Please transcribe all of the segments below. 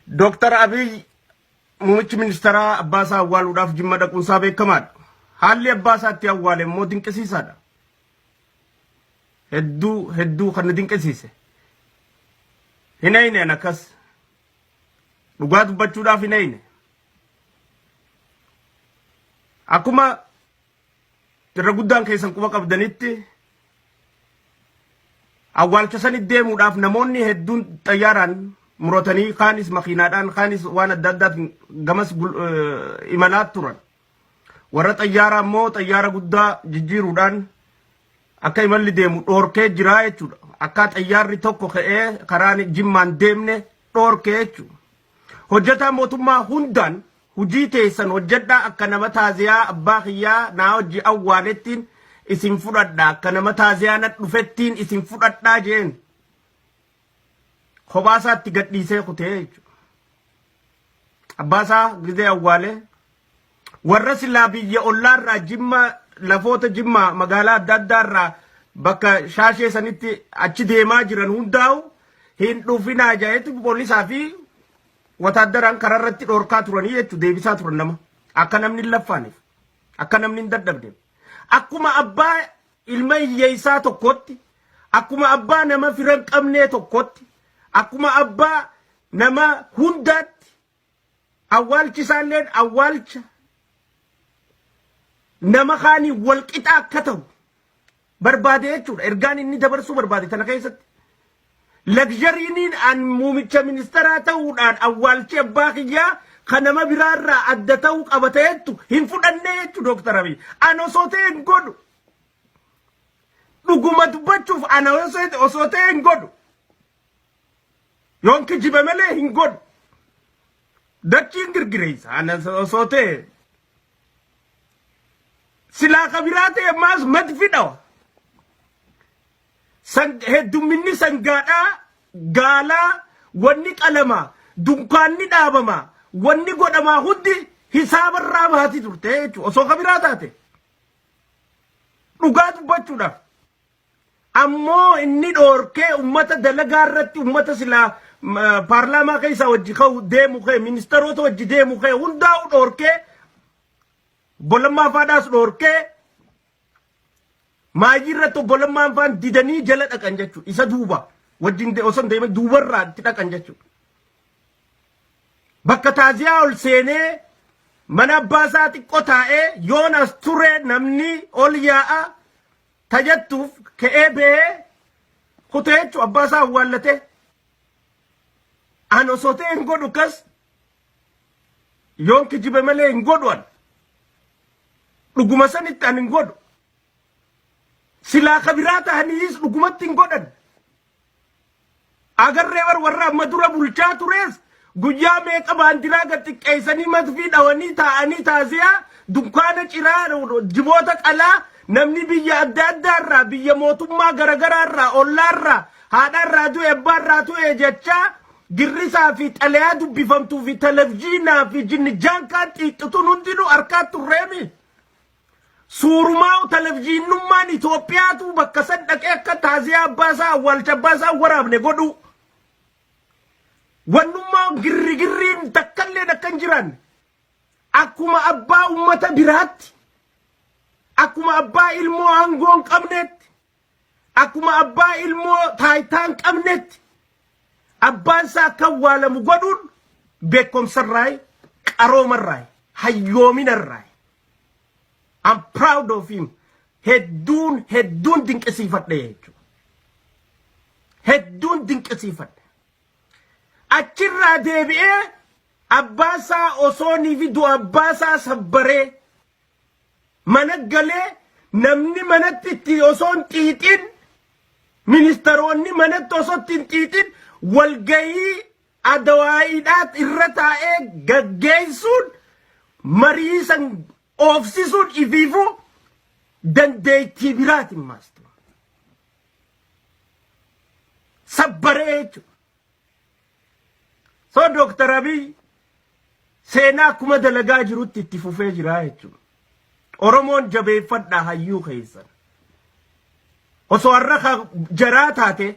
Dooktar Abiy muummichi ministeeraa abbaa isaa awwaaluudhaaf jimma dhaquun isaa beekamaadha. Haalli abbaa isaa itti awwaale immoo dinqisiisaadha. Hedduu hedduu kan na dinqisiise. Hin eeyneen akkas. Dhugaa dubbachuudhaaf hin eeyne. Akkuma irra guddaan keessan quba qabdanitti awwaalcha sanitti deemuudhaaf namoonni hedduun xayyaaraan muratanii kaanis makiinaadhaan kaanis waan adda addaatiin gamas imalaa turan. Warra xayyaaraa immoo xayyaara guddaa jijjiiruudhaan akka imalli deemu dhoorkee jiraa jechuudha. Akka xayyaarri tokko ka'ee karaan jimmaan deemne dhoorkee jechuudha. Hojjataa mootummaa hundaan hujii teessan hojjadhaa akka nama taaziyaa abbaa kiyyaa naa wajji awwaalettiin isin fudhadha akka nama taaziyaa na dhufettiin isin fudhadhaa jeen kophaa isaatti gadhiisee kutee jechuudha. Abbaa isaa gizee awwaalee warra silaa biyya ollaa irraa jimma lafoota jimma magaalaa adda addaa irraa bakka shaashee sanitti achi deemaa jiran hundaa'u hin dhufinaa jahetti poolisaa fi wataaddaraan karaa irratti dhorkaa turanii jechuudha deebisaa turan nama akka namni hin laffaaniif akka namni hin dadhabneef akkuma abbaa ilma hiyyeessaa tokkotti akkuma abbaa nama fira hin qabnee tokkotti akkuma abbaa nama hundaatti Awwaalchi isaalleen awwaalcha nama kaanii wal qixaa akka ta'u barbaade jechuudha. Ergaan inni dabarsuu barbaade tana keessatti. Lagzhariiniin an muumicha ministeeraa ta'uudhaan awwaalchi abbaa kiyyaa kan nama biraarraa adda ta'uu qaba ta'ettu hin fudhannee jechuudha Dooktar Abiy. An osoo ta'e hin godhu. Dhuguma dubbachuuf ana osoo ta'e hin godhu. Yoon kijibe malee hin godhu. Dachiin girgireessa. Ana osoo ta'e silaa ka biraa ta'e maas madfi dhawa. San- Heddumminni sangaadhaa gaalaa wanni qalama dunkaanni dhaabama wanni godhamaa hundi hisaabarraa baati turte jechuudha. Osoo ka biraa taate dhugaa dubbachuudhaaf. Ammoo inni dhoorkee ummata dalagaa irratti ummata silaa paarlaamaa keessaa wajji ka'u deemu kee ministeerota wajji deemu kee hundaa'u dhoorkee obbolammaa faadhaas dhoorkee maayii irratti obbolammaan faan didanii jala dhaqan jechuudha. Isa duuba wajjin osoo hin deemin duubarraa itti dhaqan jechuudha. Bakka taaziyaa ol seenee mana abbaa isaa xiqqoo taa'ee yoonas ture namni ol yaa'a ta jettuuf ka'ee ba'ee kutee jechuun abbaa isaa awwaallatee an osoo ta'e hin godhu kas yoon kijibe malee hin godhu an dhuguma sanitti an hin godhu silaa ka biraa ta'aniis dhugumatti hin godhan Agarree bar warra amma dura bulchaa turees guyyaa meeqa baandiraa gad xiqqeessanii matfii dhawanii taa'anii taasiyaa dunkaana ciraa jiboota qalaa namni biyya adda addaa irraa biyya mootummaa garagaraa irraa ollaa irraa haadha irraa du'e abbaa irraa du'e jechaa girrisaa fi xalayaa dubbifamtuu fi televizyiinaa fi jinnijaan kaan xiixxituun hundinuu harkaa turreemi. Suurumaa televizyiinnummaan Itoophiyaatu bakka san dhaqee akka taaziyaa abbaa isaa awwaalcha abbaa isaa waraabne godhuu. Wannummaa girrigirriin takkalleen akka hin jiraanne. Akkuma abbaa ummata biraatti. Akkuma abbaa ilmoo aangoo hin qabneetti. Akkuma abbaa ilmoo taayitaa hin qabnetti abbaan isaa akka awwaalamu godhuun beekumsarraayi, qaroomarraayi, hayyoominarraayi. I'm proud of him. Hedduun hedduun dinqisiifadhe jechuudha. Hedduun dinqisiifadhe. Achirraa deebi'ee abbaa isaa osoo niifi du'a abbaa isaa sabbaree mana galee namni manatti itti osoo hin xiixin ministeroonni manatti osoo itti hin xiixin walgahii adawaa'iidhaa irra taa'ee gaggeessuun marii san oofsisuun ifiifuu dandeettii biraati maastu. Sabbaree jechuudha. So Dr. Abiy seenaa akkuma dalagaa jirutti itti fufee jira jechuudha. Oromoon jabeeffadhaa hayyuu keessan. Osoo har'a ka jaraa taate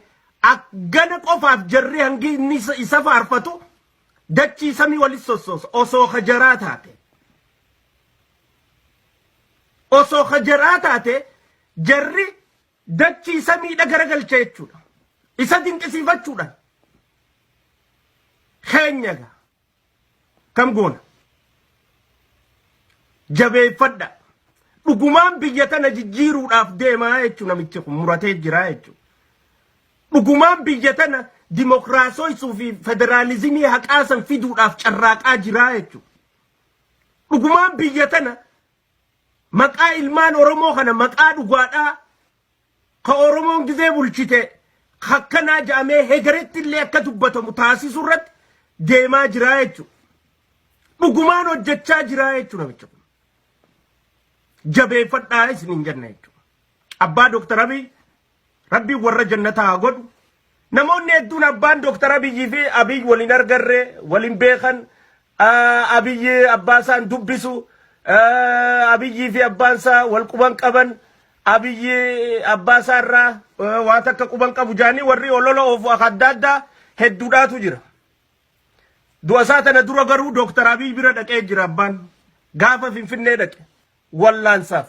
ak- gana qofaaf jarri hangi inni isa- isa faarfatu dachii samii walis sossoosa osoo ka jaraa taate. Osoo ka jaraa taate jarri Dachii samiidha garagalcha jechuudha. Isa dinqisiifachuudhaan keenya egaa kam goona? Jabeeffadha. Dhugumaan biyya tana jijjiiruudhaaf deemaa jechuun namichi kun muratee jiraa jechuudha. Dhugumaan biyya tana dimokiraasooysuu fi federaalizimii haqaa san fiduudhaaf carraaqaa jiraa jechuudha. Dhugumaan biyya tana Maqaa ilmaan Oromoo kana maqaa dhugaadhaa ka Oromoon gizee bulchite hakkanaa ja'amee hegeretti illee akka dubbatamu taasisuu irratti deemaa jiraa jechuudha. Dhugumaan hojjechaa jiraa jechuudha namicha kun. Jabeeffadhaa isiniin jenna jechuudha. Abbaa Dooktar Abiy Rabbiin warra jannataa haa godhu. Namoonni hedduun abbaan Dooktar Abiyyii fi Abiy wal hin argarre, wal hin beekan, ah, Abiy abbaa isaa hin dubbisu, ah, Abiyyii fi abbaan isaa wal quban qaban, Abiy abbaa isaa irraa ah, waa takka quban qabu jaanii warri olola oofu akka adda addaa hedduudhaatu jira. Du'a isaa tana dura garuu Dooktar Abiy bira dhaqee jira abbaan. Gaafa Finfinnee dhaqe. Wallaansaaf.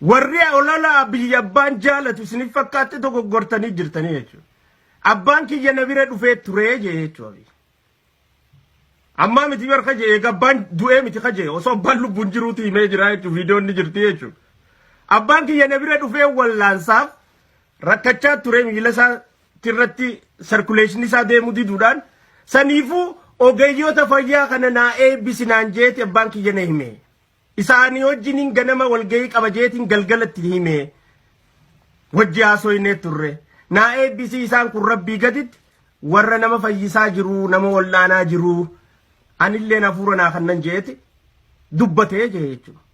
Warri ololaa biyya abbaan jaalatu isinif fakkaatte dogoggortanii jirtanii jechuudha. Abbaan kiyya na bira dhufee turee jee jechuudha. Ammaa miti barka jee eega abbaan du'ee miti ka jee osoo abbaan lubbuun jiruuti himee jira jechuudha viidiyoon ni jirti jechuudha. Abbaan kiyya na bira dhufee wallaansaaf rakkachaa turee miila isaa irratti sarkuleeshinii isaa deemuu diduudhaan saniifuu ogeeyyoota fayyaa kana naa eebbisi naan jeeti abbaan kiyya na hime. Isaanii wajjiniin ganama walgahii qaba jeetiin galgalatti hime. Wajji haasoynee turre. Naa eebbisii isaan kun rabbii gaditti warra nama fayyisaa jiru nama wal'aanaa jiru anilleen hafuura naa kannan jeeti dubbatee jee jechuudha.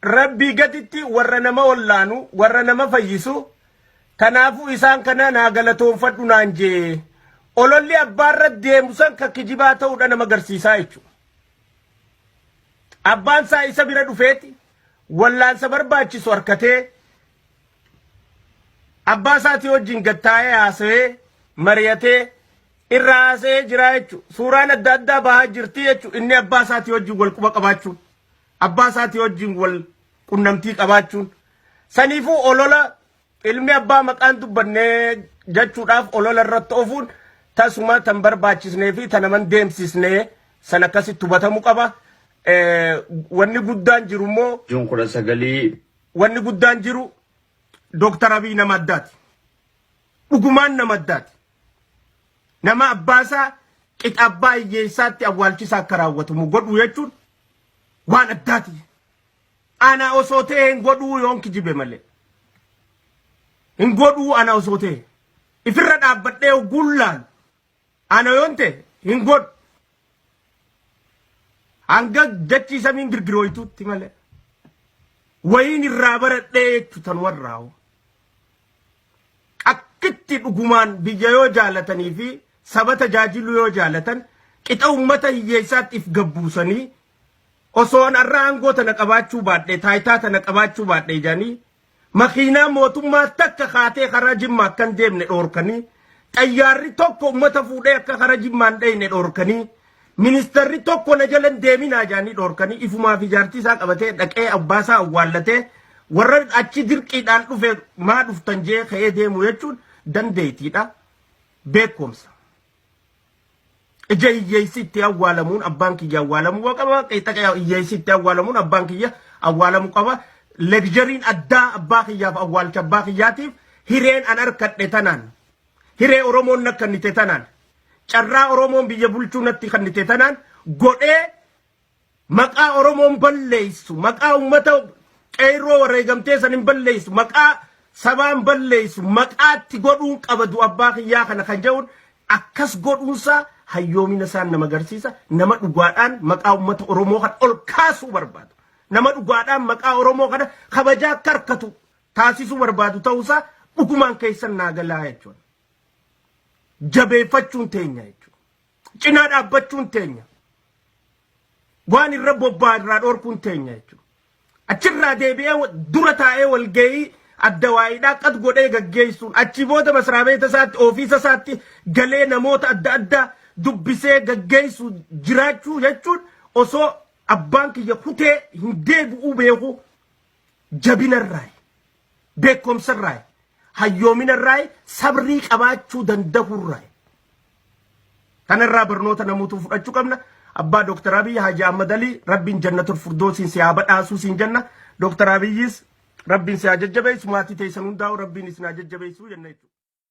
Rabbii gatitti warra nama wallaanu, warra nama fayyisu, kanaafuu isaan kana naa galatoonfadhu naan jee. Ololli abbaarra deemu san ka kijibaa ta'uudha nama garsiisaa jechuudha. Abbaan isaa isa bira dhufeeti wallaansa barbaachisu harkatee abbaa isaatii wajjin gattaa'ee haasa'ee mari'atee irraa haasa'ee jiraa jechuudha. Suuraan adda addaa bahaa jirti jechuudha inni abbaa isaatii wajjin wal quba qabaachuun. abbaa isaatii wajjin wal qunnamtii qabaachuun saniifuu olola ilmi abbaa maqaan dubbanne jechuudhaaf olola irratti ofuun tasuma tan barbaachisnee fi tan aman deemsisne san akkasitti hubatamu qaba. Wanni guddaan jiru immoo. Juun kudha sagalii. Wanni guddaan jiru Dooktar Abiy nama addaati. Dhugumaan nama addaati. Nama abbaasaa qixa abbaa hiyyeessaatti awwaalchisaa akka raawwatamu godhu jechuun waan addaati. Ana osoo ta'e hin godhuu yoon kijibe malee. Hin godhuu ana osoo ta'e. Ifirra dhaabbadhee ogguun laalu. Ana yoon ta'e hin godhu. Hanga dachii samiin girgirooytuutti malee. Wayiin irraa baradhee jechuutan warraa hoo. Akkitti dhugumaan biyya yoo jaalatanii fi saba tajaajiluu yoo jaalatan qixa uummata hiyyeessaatti if gad buusanii osoo an arra aangoo tana qabaachuu baadhe taayitaa tana qabaachuu baadhe jedhanii makiinaa mootummaa takka kaatee karaa jimma akkan deemne dhoorkanii xayyaarri tokko uummata fuudhee akka karaa jimmaan dheyne dhoorkanii Ministarri tokko na jala hin deeminaa jaanii dhoorkanii ifumaa fi jaartii isaa qabatee dhaqee abbaa isaa awwaallatee warra achi dirqiidhaan dhufe maa dhuftan jee ka'ee deemu jechuun dandeettiidha. Beekumsa. Ija hiyyeessi itti awwaalamuun abbaan kiyya awwaalamuu qaba. Qeexaqa hiyyeessi itti awwaalamuun abbaan kiyya awwaalamuu qaba. Legzariin addaa abbaa kiyyaaf awwaalcha abbaa kiyyaatiif hireen an harkadhe tanaan hiree Oromoon na kannite tanaan carraa Oromoon biyya bulchuu natti kannite tanaan godhee maqaa Oromoon balleessu maqaa ummata qeerroo wareegamtee san hin balleessu maqaa sabaan balleessu maqaatti godhuun qabadu abbaa kiyyaa kana kan jedhuun akkas godhuunsaa hayyoomina isaan nama agarsiisa nama dhugaadhaan maqaa ummata Oromoo kan ol kaasuu barbaadu nama dhugaadhaan maqaa Oromoo kana kabajaa akka harkatu taasisuu barbaadu ta'uu isaa dhugumaan keessan naa galaa jechuudha. Jabeeffachuun teenya jechuudha. Cinaa dhaabbachuun teenya. Waan irra bobbaa irraa dhorkuun teenya jechuudha. Achirraa deebi'ee dura taa'ee walgahii adda waa'idhaa qad godhee gaggeessuun achi booda masraa beeta isaatti ofiisa isaatti galee namoota adda addaa dubbisee gaggeessu jiraachuu jechuun osoo abbaan kiyya kutee hin deebi'uu beeku jabinarraayi, beekumsarraayi, hayyoominarraayi, sabrii qabaachuu danda'urraayi. Kanarraa barnoota namuutu fudhachuu qabna. Abbaa Dooktar Abiyyi Haaji Ahmad Alii rabbiin jannatul furdoosiin si haa badhaasuu siin jenna. Dooktar Abiyyis rabbiin si haa jajjabeessu maatii teessan hundaa'u rabbiin isin haa jajjabeessu jenna jechuudha.